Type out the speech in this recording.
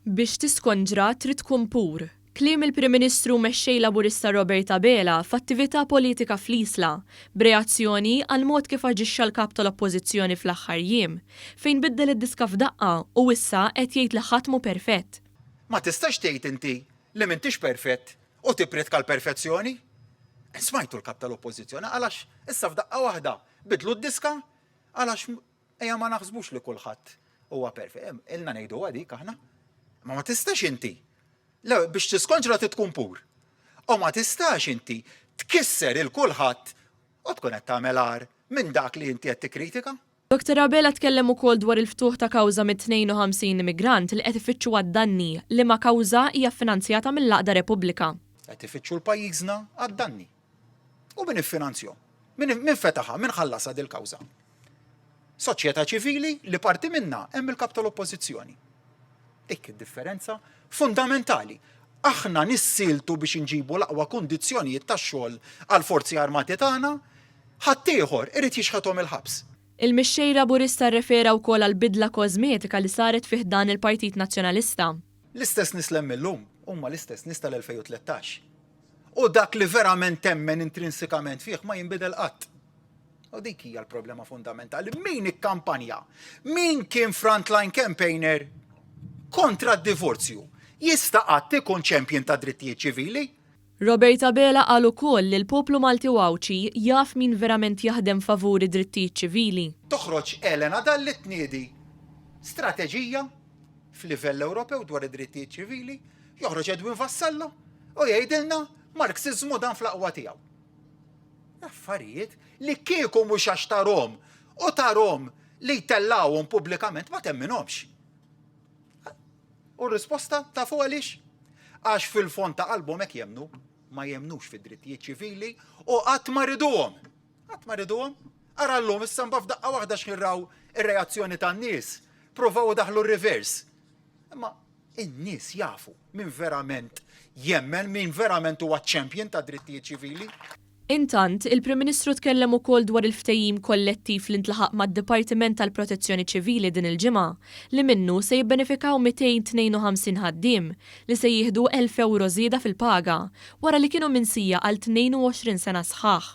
Biex tiskonġra trid tkun pur. Kliem il-Prim Ministru Mexxej Laburista Robert Abela f'attività politika fl-Isla, b'reazzjoni għall-mod kif aġixxa l-Kap tal-Oppożizzjoni fl-aħħar jiem, fejn biddel id-diska f'daqqa u issa qed jgħid li ħadd mhu perfett. Ma tistax tgħid inti li m'intix perfett u tippriedka l-perfezzjoni. Smajtu l-Kap tal-Oppożizzjoni qal għax issa f'daqqa waħda biddlu d-diska Għalax ejja ma naħsbux li kulħadd huwa perfett. Ilna ngħiduha dik aħna. Ma ma tistax inti. Lew biex tiskonġra trid tkun pur. U ma tistax inti tkisser il kulħadd u tkun qed tagħmel agħar minn dak li inti qed tikkritika. Doktor Abela tkellem ukoll dwar il-ftuħ ta' kawża mit-52 immigrant li qed ifittxu għad-danni, liema kawża hija ffinanzjata mill-Għaqda Repubblika. Qed ifittxu l-pajjiżna għad-danni. U min iffinanzjhom? Min, min fetaħha? Min ħallasha dil-kawża? Soċjetà ċivili li parti minnha hemm il-kap tal-oppożizzjoni. Dik id-differenza fundamentali. Aħna nissiltu biex inġibu l-aqwa kundizzjonijiet tax-xogħol għall-forzi armati tagħna, ħaddieħor irid jixħethom il-ħabs. Il-Mexxej Laburista rrefera wkoll għall-bidla kożmetika li saret fi ħdan il-Partit Nazzjonalista. L-istess nies li hemm illum huma l-istess nies tal-2013. U dak li verament temmen intrinsikament fih ma jinbidel qatt. U dik hija l-problema fundamentali. Min ikkampanja? Min kien frontline campaigner kontra d-divorzju? Jista' qatt ikun champion ta' drittijiet ċivili? Robert Abela qal ukoll li l-poplu Malti u Għawdxi jaf min verament jaħdem favur id-drittijiet ċivili. Toħroġ Elena Dalli tniedi strateġija f'livell Ewropew dwar id-drittijiet ċivili. Joħroġ Edwin Vassallo u jgħidilna Marxiżmu dan fl-aqwa tiegħu. Affarijiet li kieku mhux għax tarhom u tarhom li jtellgħuhom pubblikament ma temminhomx. U r-risposta ta' fuq għaliex? Għax fil-fond ta' qalbhom hekk jemnu, ma jemnux fid-drittijiet ċivili u qatt ma riduhom. Qatt ma riduhom. Ara llum issa mbagħad f'daqqa waħda xħirraw ir-reazzjoni tan-nies. Provaw daħlu r-reverse. Imma In-nies jafu min verament jemmen, min verament huwa champion tad-drittijiet ċivili. Intant, il-Prim Ministru tkellem ukoll dwar il-ftehim kollettiv li ntlaħaq mad-Dipartiment tal-Protezzjoni Ċivili din il-ġimgħa, li minnu se jibbenefikaw 252 ħaddiem, li se jieħdu elf ewro żieda fil-paga, wara li kienu minsija għal 22 sena sħaħ.